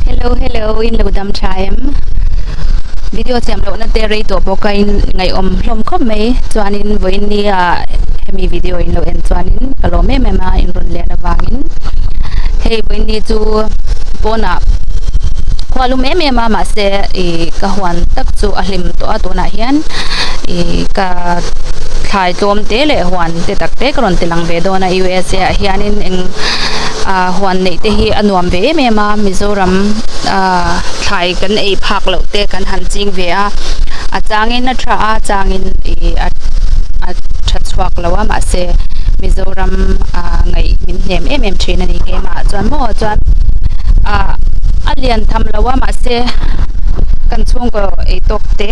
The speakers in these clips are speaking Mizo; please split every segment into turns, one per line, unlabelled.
Hello hello in lo dam tha em video siam lo na te rei to bo ka in ngai om hlom khop mai chuan in voi in ni a hemi video in lo en chuan in ka lo me me ma in run le na wang in hei voi ni chu pona khwa lu me me ma ma se i ka huan tak chu a hlim to a to na hian i ka thlai tlom te le huan te tak te ka ron ti lang ve do na usa a hian in eng a a huan neih te hi a nuam ve em em a mizoram ah thlai kan ei phak loh te kan han ching ve a a changin a tha a changin ih a a tha chhuak loh a mahse mizoram ah ngaih min hnem em em thin a ni keimah chuan maw chuan ah a lian tham lo a mahse kan chhungkaw ei tawk te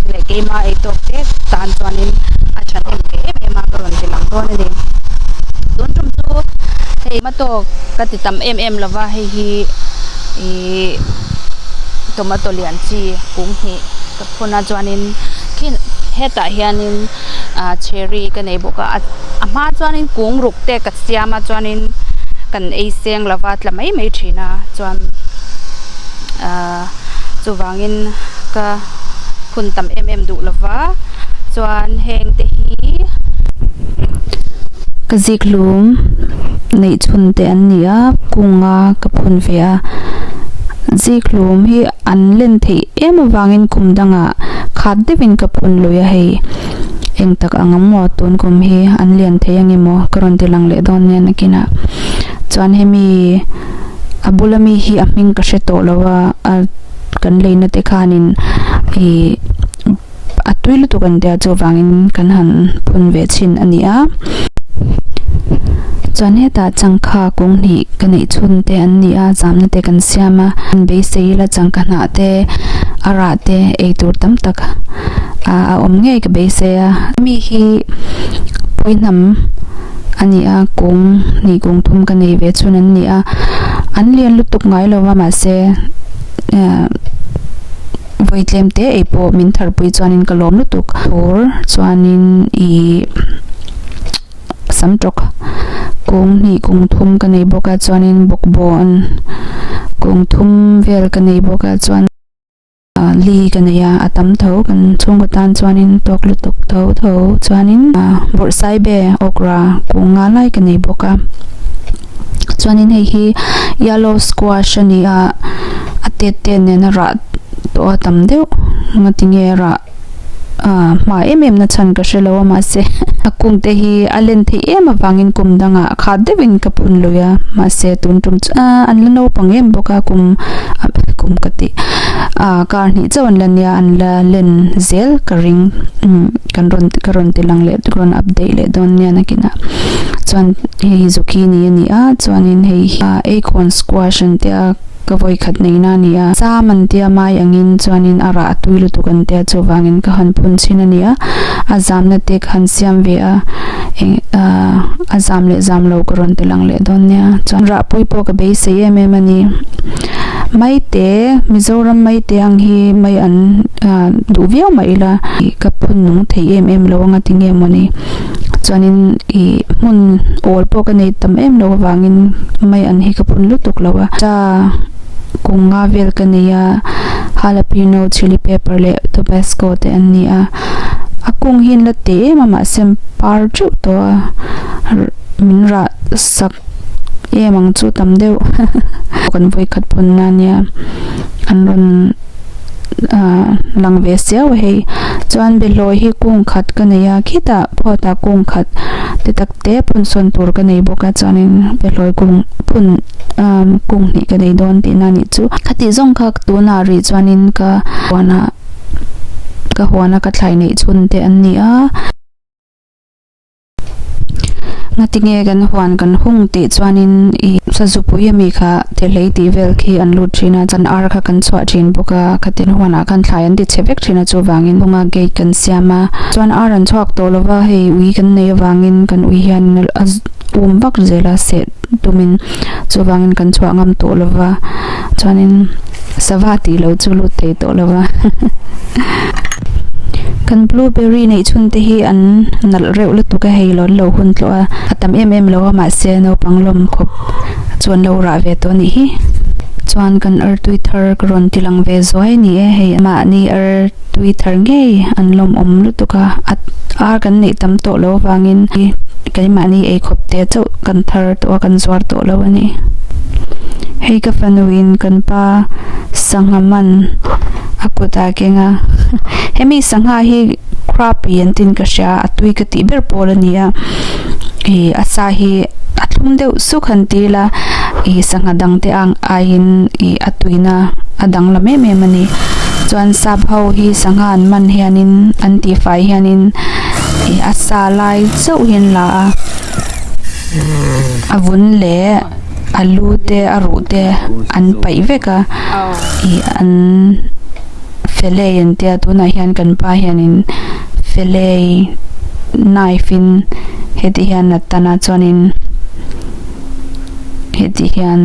leh keima ei tawk te tan chuanin a tha hnem ve em em a ka rawn ti lang dawn a ni tun tum chu-- Hei matawk ka ti tam em em lova hei hi ih tomato lian chi kum hnih ka phun a chuanin khin hetah hianin ah cherry ka nei bawk a a hma chuanin kung ruk te ka siam a chuanin kan ei seng lova tla mai mai thin a chuan ah. a, chuvangin ka hun tam em em duh lo va, chuan heng te hi ka ziklum neih chhun te an ni a, kung a ka phun ve a, ziklum hi an len theih em avangin kum danga khat deuhin ka phun lui a hei, eng tak ang a maw tun kum hi an lian theih ange maw ka rawn ti lang leh dawn nen akinah chuan hemi. a bula mi hi a hming ka hre tawh lo a a kan lei nate khan in ihh a tui lutuk a ni tel chu vang in kan han phun ve chhin a ni a chuan hetah changkha kung hnih ka neih chhun te an ni a zamna te kan siam a beisei ila changka hnah te a rah te ei tur tam tak ahh a awm ngei ka beisei a mi hi pawi hnam-- a ni a, kung hnih kung thum ka nei ve chun an ni a, an lian lutuk ngai lo va mahse vawi tlem te ei pawh min thar pui chuanin ka lawm lutuk tur chuanin i sam tawk kung hnih kung thum ka nei bawk a chuanin bawkbawn kung thum vel ka nei bawk a chuan Li ka nei a, a tam tho. Kan chhungkaw tan chuanin tawk lutuk tho tho chuanin bawrhsai be okra kung nga lai ka nei bawk a. Chuanin hei hi yellow squash a ni a, a tet tet nen a rah tawh a tam deuh. Ngatinge a rah. a hma em em na chhan ka hre lo a mahse a kung te hi a len theih em avangin kum dang ah kha deuh in ka phun lui a mahse tun tum chu ah an la naupang em bawk a kum kum ka ti ah kar hnih chauh an la nia an la len zel ka ring umm kan rawn ka rawn ti lang leh ka rawn update leh dawn nia nakin ah chuan hei hi zucchini a ni a chuan in hei hi ah acorn squash an tia. ka vawi khat neihna a ni a. Sam an tia mai angin chuanin a rah a tui lutuk an tia chuvangin ka han phun chhin a ni a, a zamna te ka han siam ve a, eng ah a zam leh zam lo ka rawn ti lang leh dawn nia chuan rahpui pawh ka beisei em em a ni. Maite, Mizoram maite ang hi mai an duh viau mah ila ka phun nung thei em em lo anga ti nge maw ni? chuanin ih hmun awl pawh ka nei tam em lo avangin mai an hi ka phun lutuk lo a ta kung nga vel ka nei a jalapeno chilli pepper leh tabasco te an ni a a kung hian la teh em a mahse par teuh tawh a min rah sak em ang chu tam deuh kan vawikhat pawn ania an rawn-- ahh lang ve siau a hei chuan behlawi hi kung khat ka nei a khitah phawtah kung khat ti takte phun sawn tur ka nei bawk a chuanin behlawi kung phun ahh kung hnih ka nei dawn tihna a nih chu khatih zawng kha tuna rih chuanin ka huana ka huana ka thlai neih chhunte an ni a. Ngatinge kan huan kan hung tih chuanin i Sazupui ami kha Tirhlei tih vel khi an lut thin a, chan ar kha kan chhuah thin bawk a, khatin huanah khan thlai an ti chhe vek thin a chuvangin hunga gate kan siam a, chuan ar an chhuak tawh lova hei ui kan nei avangin kan ui hian a um vak zela seh. tumin chuvangin kan chhuah ngam tawh lo va chuanin sava tih loh chu lut thei tawh lo va kan blueberry neih chhun te hi an nalh reuh lutuk a hei lo an lo hun tawh a a tam em em lo a mahse naupang lawm khawp chu an lo rah ve tawh a nih hi chuan kan artui thar ka rawn tilang ve zuai a ni e hei mahni ar-- tui tar ngei an lawmawm lutuk a, at ar kan neih tam tawh lo avangin i keimahni ei khawp te chauh kan thar tawh a, kan zuar tawh lo a ni. Hei ka fanu in kan pa sangha man a kut a keng a, hemi sangha hi Krabi an tin ka hria, a tui ka tih ber pawl a ni a. ih a sa hi a thlum deuh suk han ti ila ih sangha dang te ang aiin ih a tuina a dang hlawm em em a ni chuan sap ho hi sangha an man hianin an tifai hianin ih a sa lai zeuh hi an la a a vun leh a lu te a ruh te an paih vek a ih an fe lei an tia tunah hian kan pa hianin-- Felei knife in hetih hian a tan a chuanin hetih hian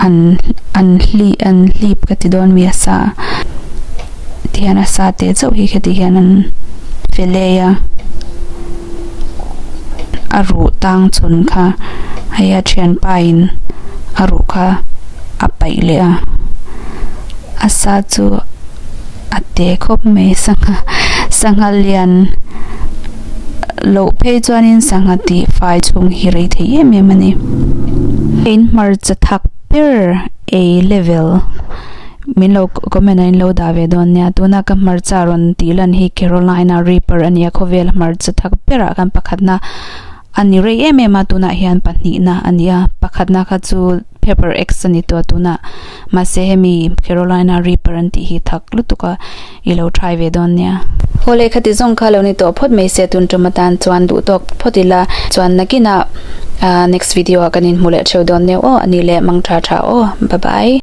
an an hli an hlip ka ti dawn mi a sa a ti hian a sa teh chauh hi hetih hian an felei a a ruh tang chhun kha hei a thianpa in a ruh kha a paih leh a a sa chu-- A te khawp mai sangha sangha lian loh phei chuanin sangha tih fai chhung hi rei thei em em a ni in hmarcha thak ber A level min lo comment ah in lo dah ve dawn nia tuna ka hmarcha rawn tih lan hi Carolina Reaper a nia khawvel hmarcha thak ber ah khan pakhatna a ni rei em em a tunah hian pahnihna a ni a pakhatna kha chu-- Paper X a ni tua tuna, mahse hemi Carolina Reaper an tih hi thak lutuk a i lo try ve dawn nia. Haw lehkha ti zawng kha lo ni tawh phawt mai se tun tum atan chuan duh tawk phawt ila, chuan nakin a next video ah kan in hmu leh theu dawn neu aw ani le mangtha tha aw, bye bye.